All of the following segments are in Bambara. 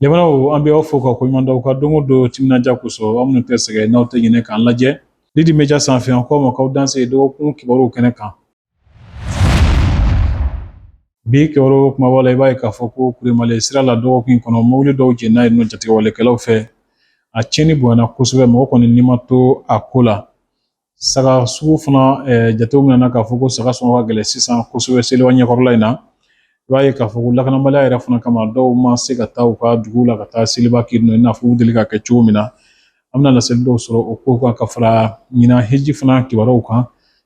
Jamanaw an bɛ aw fo ka ko ɲuman dɔn aw ka don o don timinandiya kosɔn aw minnu tɛ sɛgɛn n'aw tɛ ɲinɛ k'an lajɛ Lidi Media sanfɛ an k'aw ma k'aw danse dɔgɔkun kibaruw kɛnɛ kan Bi kibaru kunbaba la i b'a ye k'a fɔ ko kuremale sira la dɔgɔkun kɔnɔ mobili dɔw jenina yen nɔ jatigɛwalekɛlaw fɛ a tiɲɛni bonyana kosɛbɛ mɔgɔ kɔni ni ma to a ko la saga sugu fana jatew minɛna k'a fɔ ko saga sɔngɔ ka gɛlɛn sisan kosɛbɛ seliba ɲɛkɔrɔla in na i b'a ye k'a fɔ ko lakanabaliya yɛrɛ fana kama dɔw ma se ka taa u ka dugu la ka taa seliba kɛ yen nɔ i n'a fɔ u deli k'a kɛ cogo min na an bɛna laseli dɔw sɔrɔ o kow kan ka fara ɲinan hiji fana kibaruw kan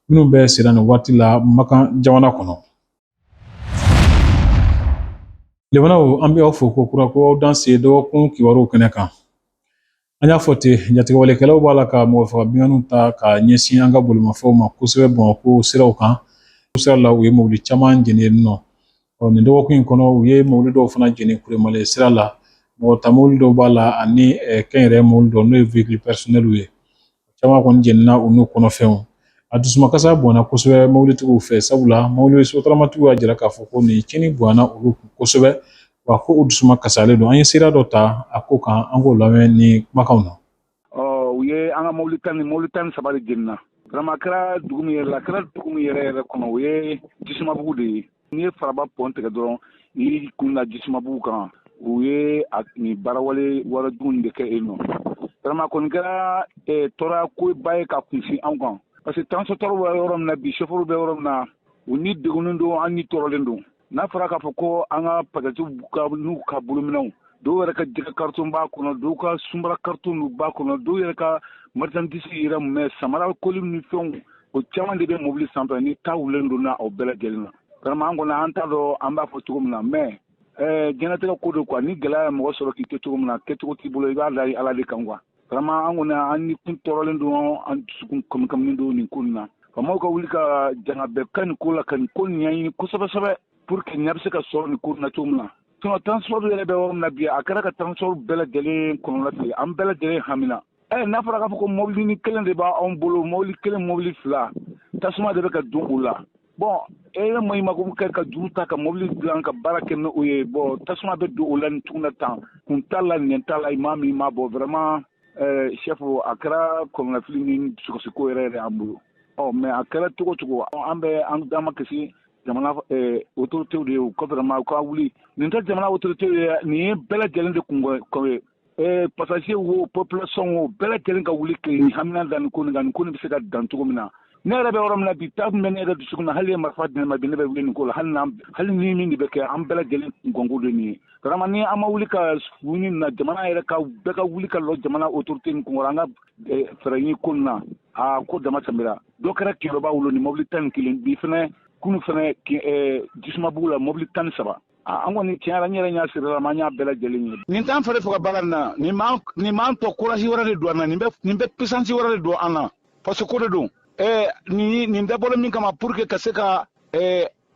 minnu bɛ sen na nin waati la makan jamana kɔnɔ lemanaw an bɛ aw fo ko kura ko aw danse dɔgɔkun kibaruw kɛnɛ kan an y'a fɔ ten jatigɛwalekɛlaw b'a la ka mɔgɔ faga binkanniw ta ka ɲɛsin an ka bolimafɛnw ma kosɛbɛ bamakɔ siraw kan sira la u ye mobili caman jeni yen nɔ ɔ nin dɔgɔkun in kɔnɔ u ye mobili dɔw fana jeni kuremale sira la mɔgɔ ta mobili dɔw b'a la ani kɛnyɛrɛ mobili dɔw n'o ye vehicule personnel ye caman kɔni jenina u n'u kɔnɔfɛnw a dusumakasi bonyana kosɛbɛ mobilitigiw fɛ sabula mobili sotaramatigiw y'a jira k'a fɔ ko nin cɛnni bonyana olu kun kosɛbɛ wa ko u dusu makasilen don an ye sira dɔ ta a ko kan an k'o lamɛn ni kumakanw na ɔ u ye an ka mobili tan ni mobili tan ni saba de jenina vraiment kɛra dugu min yɛrɛ la kɛra dugu min yɛrɛ yɛrɛ kɔnɔ o ye jisumabugu de ye n'i ye faraba pɔn tigɛ dɔrɔn i kun na jisumabugu kan u ye a nin baarawale baara jugu nin de kɛ yen nɔ vraiment kɔni kɛra eh, tɔɔrɔya koba ye ka kunsin anw kan parce que transporteur bɛ yɔrɔ min na bi chauffeur bɛ yɔrɔ min na u ni degunnen don an ni tɔɔrɔlen don n'a fɔra k'a fɔ ko an ka passagerw n'u ka bolominɛnw dɔw yɛrɛ ka jɛgɛ karton b'a kɔnɔ dɔw ka sunbara karton nu b'a kɔnɔ dɔw yɛrɛ ka marchandise yɛrɛ mɛ sanbara koli ni fɛnw o caman de bɛ mobili sanfɛ ni ta wulen donna o bɛɛ lajɛlen na vraiment an kɔni an t'a dɔn an b'a fɔ cogo min na mais jɔn latigɛ ko don quoi ni gɛlɛya ye mɔgɔ sɔrɔ k'i to cogo min na kɛcogo t'i bolo i b'a da ala de kan quoi vraiment an kɔni an ni kun tɔɔrɔlen don an dusukun kamikamilen don nin ko nin na faamaw ka wuli ka janga bɛɛ ka nin ko la ka nin ko nin ɲɛɲini kosɛbɛ sɛbɛ pour que ɲɛ bɛ se ka sɔrɔ nin ko nin na cogo min na sinɔn transport yɛrɛ bɛ yɔrɔ min na bi a kɛra an ka transport bɛɛ lajɛlen kɔnɔnafili an bɛɛ lajɛlen hamina ɛ eh, n'a fɔra k'a fɔ ko mɔbilini kelen de bɛ anw bolo mɔbili kelen mɔbili fila tasuma de bɛ ka don u la bon e ye ma mako kɛ ka juru ta ka mobili dilan ka baara kɛ n'o ye bon tasuma bɛ don o la ni tuguna tan kun t'a la nin t'a la i maa min ma bɔ vraiment eh, chef a kɛra kɔnɔnafili ni dusukasiko yɛrɛ yɛrɛ an bolo ɔ mais a kɛra cogo o cogo an bɛ an makasi jamana eh, autorités de ye ko vraiment u ka wuli nin tɛ jamana autorités ye nin ye bɛɛ lajɛlen de kun ye Eh, passager wo population wo bɛɛ lajɛlen ka wuli k'an hamina da nin ko nin kan nin ko nin bɛ se ka dan cogo min na ne yɛrɛ bɛ yɔrɔ min na bi ta bɛ ne yɛrɛ dusukun na hali ye marifa di ne ma bi ne bɛ wuli nin ko la hali n'an hali ni min de bɛ kɛ an bɛɛ lajɛlen kunko de nin ye vraiment ni an ma wuli ka wuli nin na jamana yɛrɛ ka bɛɛ ka wuli ka lɔ jamana autorité nin kunkɔrɔ an ka eh, fɛɛrɛ ɲini ko nin na a ko dama tɛmɛra dɔ kɛra kɛɲɛrɔba o lon nin mobili tan ni kelen bi fɛnɛ kunu fɛnɛ eh, jisumabugu la mobili tan ni saba an kɔni taara n yɛrɛ ɲɛ sera a ma n y'a bɛɛ lajɛlen ye nin t'an fari faga baara na nin m'an tɔ courage wɛrɛ de don an na nin bɛ puissance wɛrɛ de don an na fasoko de don nin nin dabɔra min kama pour que ka se ka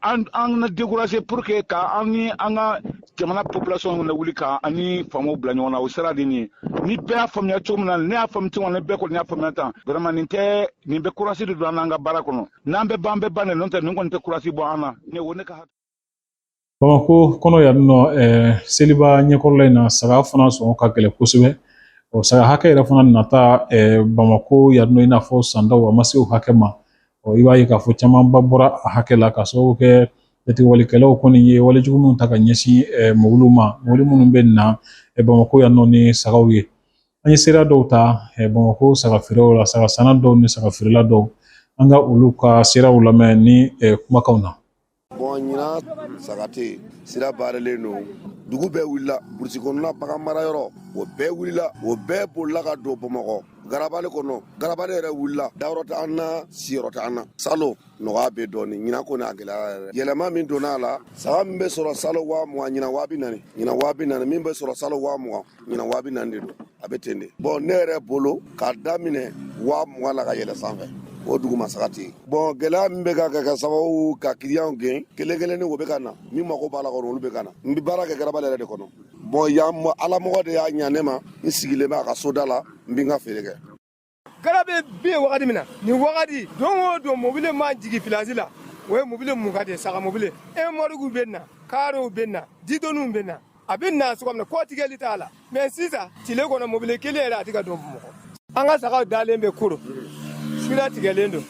an na décourager pour que ka an ni an ka jamana population lawuli ka an ni faamaw bila ɲɔgɔn na o sira de nin ni bɛɛ y'a faamuya cogo min na ne y'a faamuya cogo na bɛɛ kɔni y'a faamuya tan vraiment nin tɛ nin bɛ courage de don an n'an ka baara kɔnɔ n'an bɛ ban bɛɛ ban de n'o tɛ nin kɔni tɛ courage bɔ an na ne o ne ka Bamakɔ kɔnɔ yan nɔ seliba ɲɛkɔrɔla in na saga fana sɔngɔ ka gɛlɛn kosɛbɛ o saga hakɛ yɛrɛ fana nata bamakɔ yan nɔ i n'a fɔ san dɔw a ma se o hakɛ ma ɔ i b'a ye k'a fɔ camanba bɔra a hakɛ la k'a sababu kɛ jatigɛwalekɛlaw kɔni ye walejugu minnu ta ka ɲɛsin mɔbiliw ma mɔbili minnu bɛ na bamakɔ yan nɔ ni sagaw ye an ye seereya dɔw ta bamakɔ saga feerew la saga sanna dɔw ni saga feerela dɔw an ka olu ka seereyaw lamɛn ni kumakanw na Bɔn ɲinan saga tɛ sira barelen don dugu bɛɛ wulila burusi kɔnɔna bagan mara yɔrɔ o bɛɛ wulila o bɛɛ bolila ka don bamakɔ garabali kɔnɔ garabali yɛrɛ wulila dayɔrɔ t'an na siyɔrɔ t'an na salon nɔgɔya bɛ dɔɔnin ɲinan kɔni a gɛlɛyara yɛlɛma min donna a la saga min bɛ sɔrɔ salon waa mugan ɲinan waa bi naani ɲinan waa bi naani min bɛ sɔrɔ salon waa mugan ɲinan waa bi naani de don a bɛ ten de bɔn ne yɛrɛ bolo k'a daminɛ waa mugan la ka yɛlɛ sanfɛ o duguma saga tɛ yen bɔn gɛlɛya min bɛ ka kɛ ka sababu ka kiliyanw gɛn kelen kelenninw bɛ ka na min mako b'a la kɔnɔ olu bɛ ka na n bɛ baara kɛ garabali yɛrɛ de kɔnɔ bɔn yan alamɔgɔ de y'a ɲa ne ma n sigilen bɛ a ka soda la n bɛ n ka feere kɛ Garabali bɛ wagati min na nin wagati don o don mobili ma jigin pilasi la o ye mobili mugan de saga mobili remɔrikiw bɛ na kaarow bɛ na ditɔnw bɛ na a bɛ na cogo min na kɔtigɛli t'a la mɛ sisan tile kɔnɔ mobili kelen yɛrɛ a tɛ ka don bamakɔ an ka sagaw dalen bɛ koro sira tigɛlen don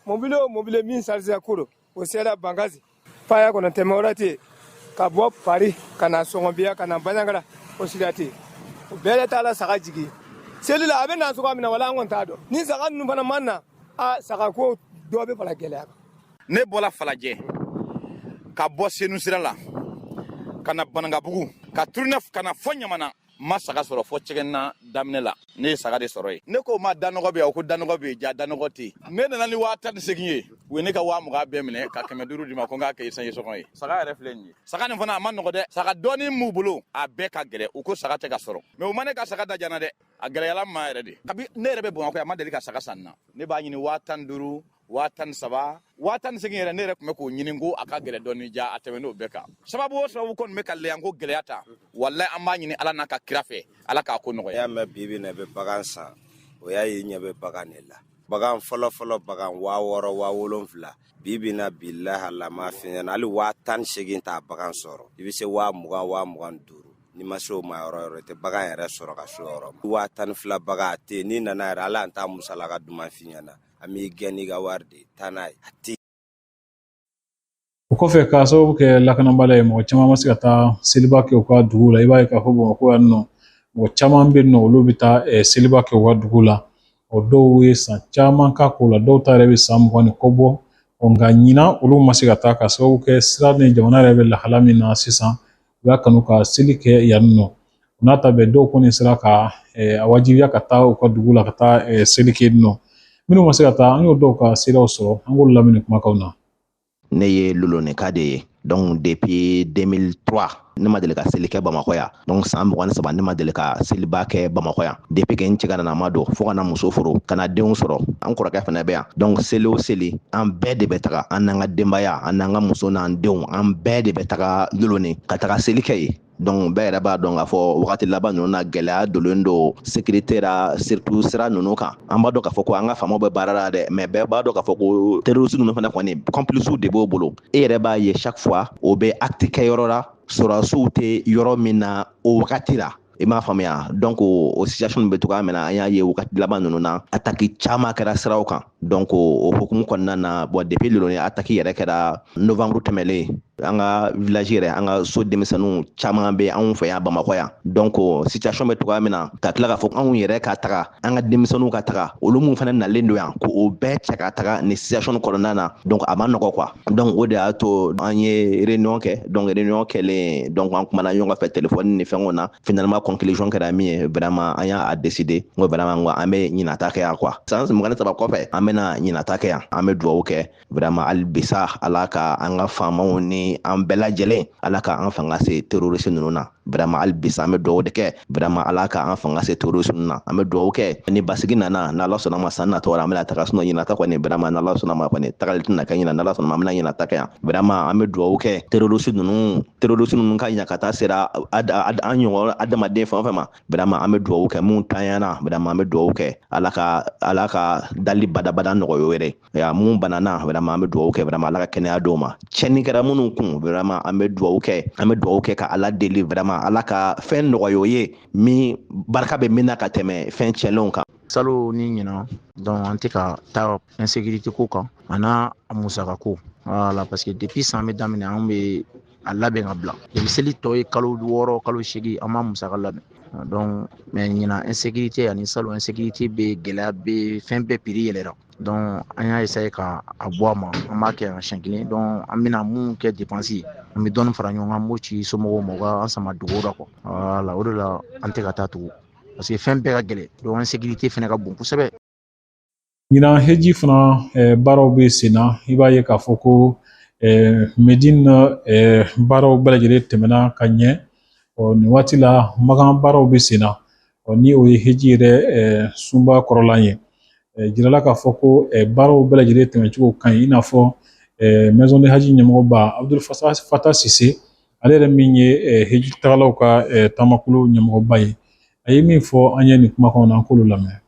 mobili o mobili min sarize koro o sera bankasi faya kɔnɔ tɛmɛyɔrɔ tɛ yen ka bɔ paru ka na sɔngɔbiya ka na baɲagara o sira tɛ yen o bɛɛ de t'a la saga jigi seli la a bɛ na cogoya min na wala an kɔni t'a dɔn ni saga ninnu fana man na a saga ko dɔ bɛ fara gɛlɛya kan ne bɔra falajɛ ka bɔ senu sira la ka na banankabugu ka turunɛ ka na fɔ ɲamana ma saga sɔrɔ fɔ cɛgɛnna daminɛ la ne ye saga de sɔrɔ yen ne ko ma danɔgɔ bɛ yan o ko danɔgɔ bɛ yen ja danɔgɔ tɛ yen ne nana ni waa tan ni segin ye u ye ne ka waa mugan bɛɛ minɛ ka kɛmɛ duuru di n ma ko n k'a kɛ esansi sɔngɔ ye saga yɛrɛ filɛ nin ye saga nin fana a ma nɔgɔ dɛ saga dɔɔni b'u bolo a bɛɛ ka gɛlɛ u ko saga tɛ ka sɔrɔ mais u ma ne ka saga da diya n na dɛ a gɛlɛyala n ma yɛrɛ de kabi ne yɛrɛ bɛ bamakɔ yan n ma deli ka saga san na ne b'a ɲini waa tan duuru waa tan ni saba waa tan ni segin yɛrɛ ne yɛrɛ tun bɛ k'o ɲini ko a ka gɛlɛ dɔɔni ja a tɛmɛn'o bɛɛ kan sababu o sababu kɔni bɛ ka lɛyan ko gɛlɛya ta walayi an b'a ɲini ala n'a ka kira fɛ ala k'a ko nɔgɔya y'a mɛn bibi na bɛ bagan san o y'a ye ɲɛ bɛ bagan de la bagan fɔlɔfɔlɔ bagan waa wɔɔrɔ waa wolonfila bibi na bi lahala m'a f'i ɲɛ na hali waa tan ni segin tɛ bagan sɔrɔ i bɛ se waa mugan waa mugan duuru n'i ma se o ma yɔrɔ yɔrɔ tɛ bagan yɛrɛ sɔrɔ ka s'o yɔrɔ ma waa tan ni fila bagan a tɛ n'i nana yɛrɛ ala an t'a musalaka duman f'i ɲɛ na an b'i gɛn n'i ka wari de ye taa n'a ye a tɛ o kɔfɛ k'a sababu kɛ lakanabaliya ye mɔgɔ caman ma se ka taa seliba kɛ u ka dugu la i b'a ye k'a fɔ bamakɔ yan nɔ mɔgɔ caman bɛ nɔ olu bɛ taa eh, seliba kɛ u ka dugu la o dɔw ye san caman k'a ko la dɔw ta yɛrɛ bɛ san mugan ni kɔ bɔ nka ɲinan olu ma se ka taa k'a sababu kɛ sira ni jamana yɛrɛ bɛ lahala min na sisan u y'a kanu ka seli kɛ yan nɔ o n'a ta bɛɛ dɔw kɔni sera ka a wajibiya ka taa u ka dugu la ka taa seli kɛ nɔ minnu ma se ka taa an y'o dɔw ka seerew sɔrɔ an k'olu lamɛn nin kumakanw na ne ye lolonika de ye donc depuis 2003 ne ma deli ka seli kɛ bamakɔ yan donc san mugan ni saba ne ma deli ka seliba kɛ bamakɔ yan depuis que n cɛgananama don fo ka na muso furu ka na denw sɔrɔ an kɔrɔkɛ fana bɛ yan donc seli o seli an bɛɛ de bɛ taga an n'an ka denbaya an n'an ka muso n'an denw an bɛɛ de bɛ taga loloni ka taga seli kɛ yen donc bɛɛ yɛrɛ b'a dɔn k'a fɔ wagati laban ninnu na gɛlɛya dolen don sécurité ra surtout sira ninnu kan an b'a dɔn k'a fɔ ko an ka faamaw bɛ baara la dɛ mais bɛɛ b'a dɔn k'a fɔ ko terroriste ninnu fana kɔni complicew de b'o bolo e yɛrɛ b'a ye chaque fois o bɛ acte kɛ yɔrɔ la sɔrɔdasiw tɛ yɔrɔ min na o wagati la i m'a faamuya donc o situation bɛ cogoya min na an y'a ye wagati laban ninnu na ataki caman kɛra siraw kan donc o hukumu kɔnɔna na bon depuis loloni ataki yɛrɛ kɛra novembre tɛmɛlen an ka village yɛrɛ an ka so denmisɛnninw caman bɛ anw fɛ yan bamakɔ yan donc situation bɛ cogoya min na ka tila k'a fɔ anw yɛrɛ ka taga an ka denmisɛnninw ka taga olu min fana nalen don yan ko o bɛɛ cɛ ka taga nin situation kɔnɔna na donc a ma nɔgɔ quoi donc o de y'a to an ye réunion kɛ donc réunion kɛlen donc an kumana ɲɔgɔn fɛ téléphone ni fɛnw na finalement conclusion kɛra min ye vraiment an y'a décider n ko vraiment n ko an bɛ ɲinan ta kɛ yan quoi san mugan ni saba kɔfɛ an bɛna ɲinan ta kɛ yan an bɛ dugawu kɛ vraiment hali bisa ala ka an ka faamaw ni an bɛɛ lajɛlen ala ka an fanga se terorisi ninnu na vraiment hali bisa an bɛ dugawu de kɛ vraiment ala ka an fanga se terorisi ninnu na an bɛ dugawu kɛ ni basigi nana n'ala sɔnna ma san natɔ la an bɛna taga sinon ɲinan ta kɔni vraiment n'ala sɔnna ma kɔni tagali tɛna kɛ ɲinan n'ala sɔnna ma an bɛna ɲinan ta kɛ yan vraiment an bɛ dugawu kɛ terorisi ninnu terorisi ninnu ka ɲakata sera an ɲɔgɔn adamaden fɛn o fɛn ma vraiment an bɛ dugawu kɛ mun tanyana vraiment an bɛ dugawu kɛ ala ka ala ka dali badabada nɔgɔya wɛrɛ ya minnu banana vraiment an bɛ dugawu kɛ vraiment ala ka kɛnɛya d'u ma tiɲɛni kɛra minnu kun vraiment an bɛ dugawu kɛ an bɛ dugawu kɛ ka ala deli vraiment ala ka fɛn nɔgɔya u ye min barika bɛ min na ka tɛmɛ fɛn tiɲɛlenw kan salon ni ɲinan donc an tɛ ka taa insécurité ko kan a n'a musaka ko voilà parce que depuis san bɛ daminɛ an bɛ a labɛn ka bila depuis seli tɔ ye kalo wɔɔrɔ kalo seegin an b'a musaka labɛn donc mais ɲinan insécurité ani salon insécurité bɛ gɛlɛya bɛ fɛn bɛɛ prix yɛlɛra an y'a essayé ka a bɔ a ma an b'a kɛ yan siɲɛ kelen an bɛna min kɛ dépense ye an bɛ dɔɔnin fara ɲɔgɔn kan an b'o ci somɔgɔw ma an sama dugu la la o de la an tɛ ka taa tugun parce que fɛn bɛɛ ka gɛlɛn donc insécurité fana ka bon kosɛbɛ ɲinan heji fana baaraw bɛ sen na i b'a ye k'a fɔ ko mɛdini baaraw bɛɛ lajɛlen tɛmɛna ka ɲɛ ɔ nin waati la makan baaraw bɛ sen na ɔ ni o ye hiji yɛrɛ sunba kɔrɔlan ye jirala k'a fɔ ko baaraw bɛɛ lajɛlen tɛmɛcogo ka ɲi i n'a fɔ maison du hadj ɲɛmɔgɔba abudul fata sise ale yɛrɛ min ye hiji tagalaw ka taamakulu ɲɛmɔgɔba ye a ye min fɔ an ye nin kumakan na an k'olu lamɛn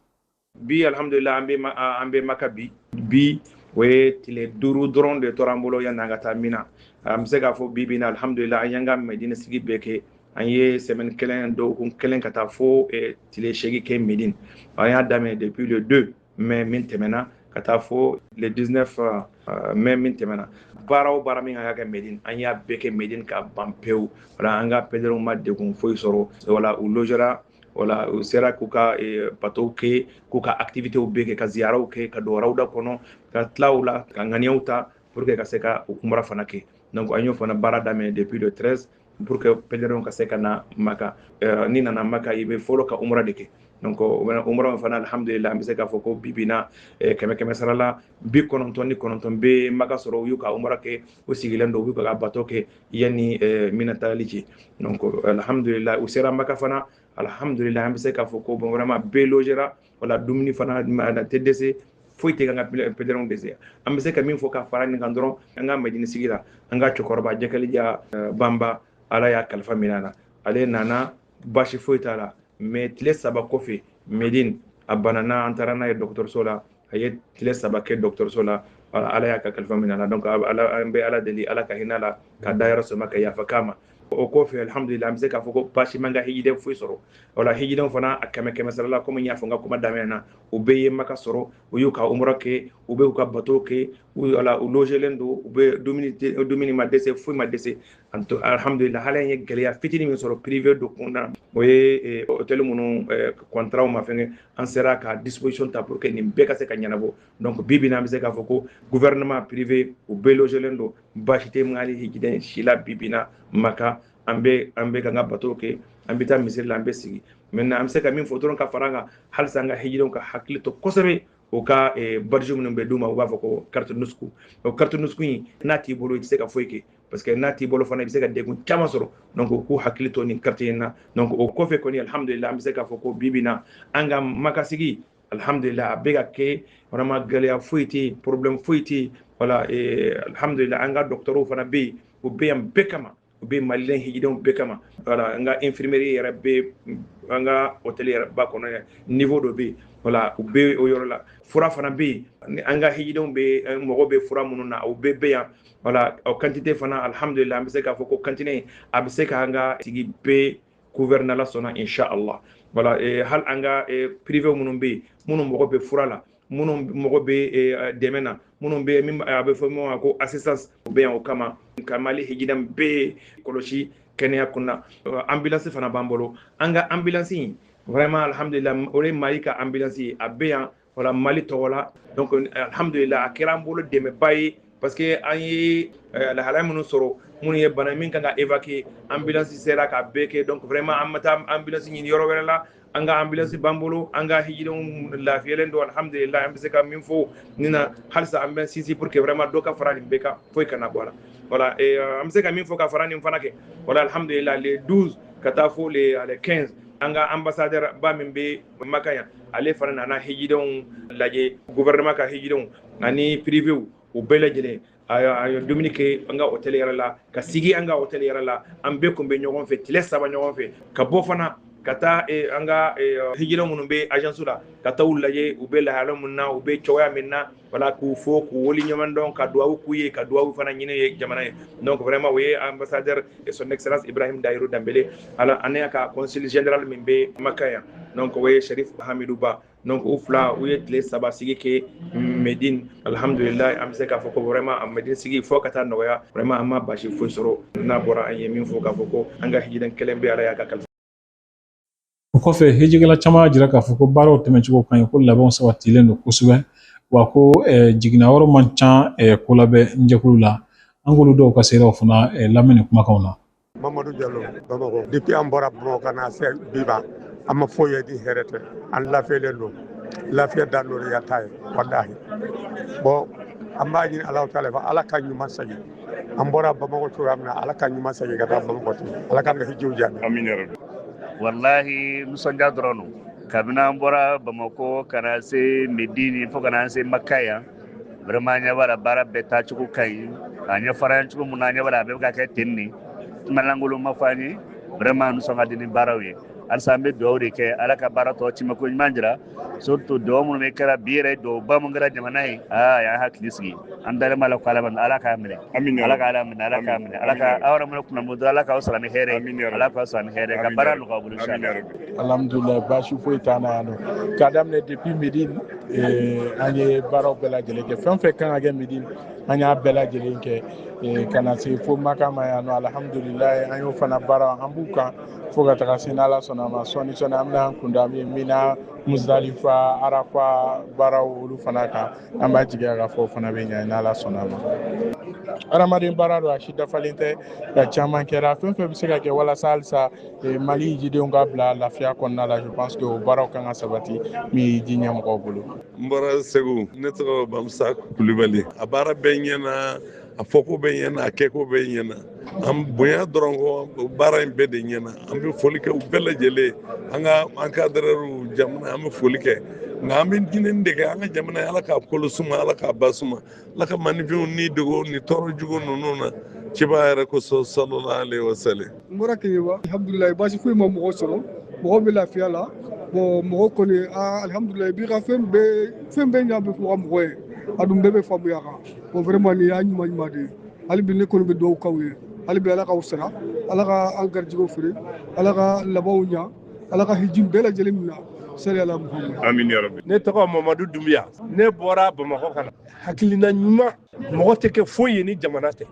bi alhamdulila an bɛ an bɛ maka bi bi o ye tile duuru dɔrɔn de tora an bolo yanni an ka taa mina an bɛ se k'a fɔ bi bi na alhamdulila an y'an ka mɛdini sigi bɛɛ kɛ an ye sɛmɛni kelen dɔgɔkun kelen ka taa fo tile seegin kɛ mɛdini an y'a daminɛ depuis le deux mai min tɛmɛna ka taa fo le 19 mai min tɛmɛna baara o baara min ka kɛ Medine an y'a bɛɛ kɛ Medine ka ban pewu voilà an ka pèlerins ma degun foyi sɔrɔ voilà u logera voilà u sera k'u ka batow eh, kɛ k'u ka activitew bɛɛ kɛ ka ziyaraw kɛ ka don rawda kɔnɔ ka tila o la ka ŋaniyaw ta pour que ka se ka u ka umra fana kɛ donc an y'o fana baara daminɛ depuis le 13 pour que pèlerins ka se ka na maka eh, n'i nana maka i bɛ fɔlɔ ka umra de kɛ donc o bɛna umra fana alhamdulillah an bɛ se k'a fɔ ko bi bi in na eh, kɛmɛ kɛmɛ sara la bi kɔnɔntɔn ni kɔnɔntɔn bɛ maka sɔrɔ u y'u ka umra kɛ u sigilen don u bɛ ka bato kɛ yanni mina taali cɛ donc alhamdulila u sera maka fana alhamdulila an bɛ se k'a fɔ ko bon vraiment bɛɛ logera voilà dumuni fana a tɛ dɛsɛ foyi tɛ an ka pèlerins dɛsɛ an bɛ se ka min fɔ ka fara nin kan dɔrɔn an ka mɛdini sigi la an ka cɛkɔrɔba jakarija banba ala y'a kalifa minɛ a na ale nana baasi foyi t'a la mais tile saba kɔfɛ medin a banana an taara n'a ye dɔgɔtɔrɔso la a ye tile saba kɛ dɔgɔtɔrɔso la ala y'a ka kalifa minɛ donc an bɛ ala deli ala ka hinɛ a la k'a dayɔrɔ suma ka yafa k'a ma o kɔfɛ alhamdulillah an bɛ se k'a fɔ ko baasi m'an ka hijiden foyi sɔrɔ o la hijidenw fana a kɛmɛ kɛmɛ sara la komi n y'a fɔ n ka kuma daminɛ na u bɛɛ ye maka sɔrɔ u y'u ka umra kɛ u bɛ u ka bato kɛ voilà u logelen don u bɛɛ dumuni ma dɛsɛ foyi ma dɛsɛ an to alhamdulila hali an ye gɛlɛya fitini min sɔrɔ prive dɔw kunda o ye eh, hôtel minnu eh, contrat ma fɛngɛ an sera ka disposition ta pour que nin bɛɛ ka se ka ɲɛnabɔ donc bi bi na an bɛ se k'a fɔ ko gouvernement privé u bɛɛ logelen don baasi tɛ mali hijiden si la bi bi na maka an bɛ an bɛ k'an ka bato kɛ an bɛ taa misiri la an bɛ sigi maintenant an bɛ se ka min fɔ dɔrɔn ka fara a kan halisa an ka hijidenw ka hakili to kosɛbɛ u ka eh, badge minnu bɛ d'u ma u b'a fɔ ko carte nusuk o carte nusuk in n'a t'i bolo i tɛ se ka foyi kɛ parce que n'a t'i bolo fana i bɛ se ka degun caman sɔrɔ donc u k'u hakili to nin carte in na donc o kɔfɛ kɔni alhamdulila an bɛ se k'a fɔ ko bi bi na an ka maka sigi alhamdulila a bɛ ka kɛ vraiment gɛlɛya foyi tɛ yen problème foyi tɛ yen voilà eh, alhamdulila an ka dɔgɔtɔrɔw fana bɛ yen u bɛ yan bɛɛ kama u bɛ malien hijidenw bɛɛ kama voilà an ka infirmerie yɛrɛ bɛ an ka hôtel yɛrɛ ba kɔnɔ yɛrɛ niveau dɔ bɛ yen voilà u bɛ o yɔrɔ la fura fana bɛ yen an ka hijidenw bɛɛ mago bɛ fura minnu na u bɛɛ bɛ yan voilà o quantité fana alhamdulillah an bɛ se k'a fɔ ko quantité a bɛ se k'an ka sigi bɛɛ couvrir n'ala sɔnna inshallah voilà eh, hali an ka eh, prive minnu bɛ yen minnu mago bɛ fura la minnu mago bɛ eh, dɛmɛ na minnu bɛ min a bɛ fɔ min ma ko assistance u bɛ yan o kama ka mali hijiden bɛɛ kɔlɔsi kɛnɛya kɔnɔna ambulance fana b'an bolo an ka ambulance in vraiment alhamdulillah o de ye mali ka ambulance ye a bɛ yan voilà mali tɔgɔ la donc alhamdulillah a kɛra an bolo dɛmɛba ye parce que an ye eh, lahalaya minnu sɔrɔ minnu ye bana min kan ka évacuer ambulance sera k'a bɛɛ kɛ donc vraiment an ma taa ambulance ɲini yɔrɔ wɛrɛ la an ka ambulance b'an bolo an ka hijidenw lafiyalen don alhamdulillah an bɛ se ka min fɔ nin na halisa an bɛ sinsin pour que vraiment dɔ ka fara nin bɛɛ kan foyi kana bɔ a la voilà et euh, an bɛ se ka min fɔ ka fara nin fana kan voilà alhamdulillah le 12 ka taa fo le 15 an ka ambassadeur ba min bɛ maka yan ale fana nana hijidenw lajɛ gouvernement ka hijidenw ani privew u bɛɛ lajɛlen a ye dumuni kɛ an ka hôtel yɛrɛ la ka sigi an ka hôtel yɛrɛ la an bɛɛ kun bɛ ɲɔgɔn fɛ tile saba ɲɔgɔn fɛ ka bɔ fana ka taa an ka hijiden minnu bɛ agence la ka taa u lajɛ u bɛ lahala min na u bɛ cogoya min na wala k'u fo k'u waleɲuman dɔn ka duwawu k'u ye ka duwawu fana ɲini ye jamana ye donc vraiment o ye ambassadeur et son excellence ibrahim dayiru danbele ale ani a ka consul général min bɛ maka yan donc o ye sharif hamidou ba donc u fila u ye tile saba sigi kɛ medine alhamdulilayi an bɛ se k'a fɔ ko vraiment a medine sigi fo ka taa nɔgɔya vraiment an ma basi foyi sɔrɔ n'a bɔra an ye min fɔ k'a fɔ ko an ka hijiden kelen bɛ ala y'a ka kalifa O kɔfɛ hijikɛla caman y'a jira k'a fɔ ko baaraw tɛmɛncogo ka ɲi ko labɛnw sabatilen don kosɛbɛ wa ko jigilawaaro man ca kolabɛn jɛkulu la an k'olu dɔw ka seereyaw fana lamɛn nin kumakan na mamadu jalo bamakɔ depuis an bɔra bamakɔ ka na se bi ma an ma foyi ye ni hɛrɛ tɛ an lafiyalen don lafiya dan don ya ta ye voilà bon an b'a ɲini ala ta ala k'an ɲuman san an bɔra bamakɔ cogoya min na ala k'an ɲuman segin ka taa bamakɔ tuguni ala k'an na hijiw jaabi amin ya rabbi walahi nisɔndiya dɔrɔn don kabini an bɔra bamakɔ ka na se medini fo ka na se maka yan vraiment an ɲɛ b'a la baara bɛɛ taacogo ka ɲi a ɲɛfɔra yan cogo min na an ɲɛ b'a la a bɛɛ bɛ ka kɛ ten nin kuma lankolon ma fɔ an ye vraiment nisɔn ka di ni baaraw ye halisa an bɛ dugawu de kɛ ala ka baara tɔ tiimɛko ɲuman jira surtout dugawu minnu bɛɛ kɛra bi yɛrɛ dugawu ba min kɛra jamana ye a y'an hakili sigi an dalen b'a la ko ala bɛ ala k'a minɛ Amina. ala k'a ala minɛ ala k'a minɛ ala ka aw yɛrɛ minɛ kunna moto ala k'aw sara ni hɛrɛ Amina. ye ala k'aw sara ni hɛrɛ ye ka baara nɔgɔya bolo Amin ya inshallah. rabbi. alhamdulilayi baasi foyi t'an na yan nɔ k'a daminɛ depuis medine eh, an ye baaraw bɛɛ lajɛlen kɛ fɛn o fɛn ka kan ka kɛ medine an y'a bɛɛ lajɛlen kɛ eh, ka na se fo maka ma yan nɔ alhamdulilayi an y'o fana baara an b'u kan fo ka taga se n'ala sɔnna ma sɔɔni sɔɔni an bɛna an kunda min mina musdalifa arafa baaraw olu fana kan an b'a jigiya k'a fɔ o fana bɛ ɲɛ n'ala sɔnna ma adamaden baara don a si dafalen tɛ nka caman kɛra fɛn o fɛn bɛ se ka kɛ walasa halisa eh, mali hijidenw ka bila lafiya kɔnɔna la je pense que o baaraw ka kan ka sabati min ye hiji ɲɛmɔgɔw bolo n bɔra segu ne tɔgɔ bamusa kulubali a baara bɛɛ ɲɛna a fɔko bɛɛ ɲɛna a kɛko bɛɛ ɲɛna an bonya dɔrɔn kɔ baara in bɛɛ de ɲɛna an bɛ foli kɛ u bɛɛ lajɛlen an ka an ka dɛrɛriw jamana an bɛ foli kɛ nka an bɛ ɲinini de kɛ an ka jamana ala k'a kolo suma ala k'a ba suma ala ka manifinw ni dogo ni tɔɔrɔ jugu ninnu na ciba yɛrɛ kosɔn salala alayi wasalam n bɔra keɲeba alhamdulilayi baasi foyi ma mɔgɔ sɔrɔ mɔgɔ bɛ lafiya la bɔn mɔgɔ kɔni alhamdulilayi bi ka fɛn bɛɛ fɛn bɛɛ ɲa bɛ fɔ ka mɔgɔ ye a dun bɛɛ bɛ faamuya kan o vraiment nin y'a ɲuman ɲuman de ye hali bi ne kɔni bɛ dugawu k'aw ye hali bi ala k'aw sara ala ka an garijɛgɛw fɛrɛ ala ka labanw ɲa ala ka hiji bɛɛ lajɛlen minɛ saliyala muhamadu amin ya rabbi ne tɔgɔ mamadu dunbuya ne bɔra bamakɔ kana hakilina ɲuman mɔgɔ tɛ kɛ foyi ye ni jamana tɛ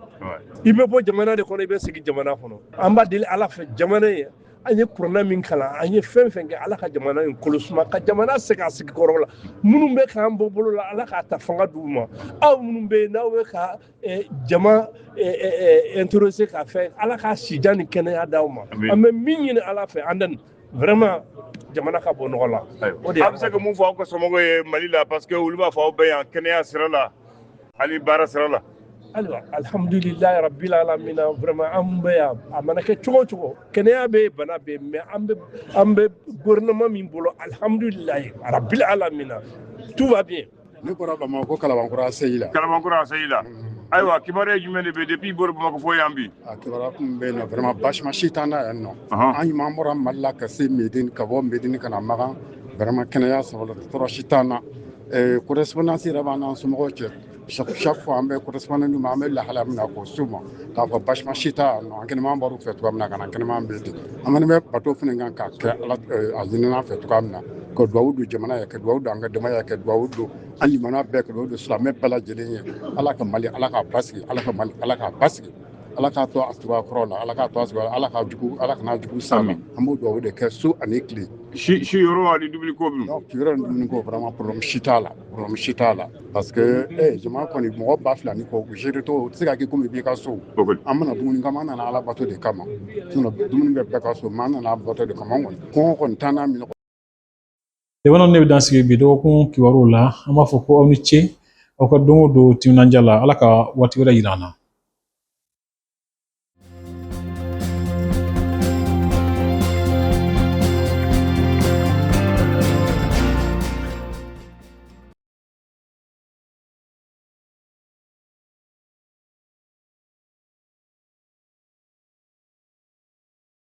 i bɛ bɔ jamana de kɔnɔ i bɛ sigi jamana kɔnɔ an b'a deli ala fɛ jamana ye an ye kuranɛ min kalan an ye fɛn fɛn kɛ ala ka jamana in kolo suma ka jamana segin a sigi kɔrɔ la minnu bɛ k'an bɔ bolo la ala k'a ta fanga d'u ma aw minnu bɛ yen n'aw bɛ ka eh, jamana intéressé eh, eh, ka fɛn ala ka sijan ni kɛnɛya d'aw ma an bɛ min ɲini ala fɛ a dan ye vraiment jamana ka bɔ nɔgɔ la o de a bɛ se ka mun fɔ aw ka somɔgɔw ye mali la parce que olu b'a fɔ aw bɛ yan kɛnɛya sira la ani baara sira la ayiwa alihamudulilayi rabila alamina vraiment an bɛ yan a mana kɛ cogo cogo kɛnɛya bɛ yen bana bɛ yen mais an bɛ an bɛ gouvernement min bolo alihamudulilayi rabila alamina tout va bien ne bɔra bamakɔ ko kalabankura aseyi la kalabankura aseyi la ayiwa kibaruya jumɛn de bɛ depuis i bɔra bamakɔ fo yan bi a kibaruya kun bɛ yen nɔ vraiment baasima si t'an na yan nɔ an ɲuman bɔra mali la ka se medini ka bɔ medini ka na makan vraiment kɛnɛya sɔrɔ la tɔɔrɔ si t'an na correspondance yɛrɛ b'an n'an somɔgɔw cɛ chaque fois an bɛ correspondre an bɛ lahala min ko so ma k'a fɔ baasi si t'an na an kɛnɛman bɔr'u fɛ cogoya min na ka na an kɛnɛman bɛ ten an kɔni bɛ bato fana kan k'a kɛ a ɲinina an fɛ cogoya min na ka dugawu don jamana ye ka dugawu don an ka dama ye ka dugawu don an bɛɛ ka don silamɛ bɛɛ lajɛlen ye ala ka mali lakika basigi ala ka mali lakika basigi ala k'a to a cogo kɔrɔ la ala k'a to a cogo ala k'a jugu ala kana jugu s'an ma an b'o dugawu de kɛ su ani tile si siyɔrɔ ani dumuni ko bi yɔrɔ ni dumuni ko vraiment problème si t'a la problème si t'a la parce que eh jama kɔni mɔgɔ ba fila ni kɔ géré to tɛ se ka kɛ komi i b'i ka so an ma na dumuni kama an nana ala bato de kama sinon dumuni bɛ bɛɛ ka so mais an nana bato de kama an kɔni kɔngɔ kɔni t'an na minɛ Tɛmɛnw nin bɛ dan sigi bi dɔgɔkun kibaruw la an b'a fɔ ko aw ni ce aw ka don o don timinandiya la ala ka waati wɛrɛ yira an na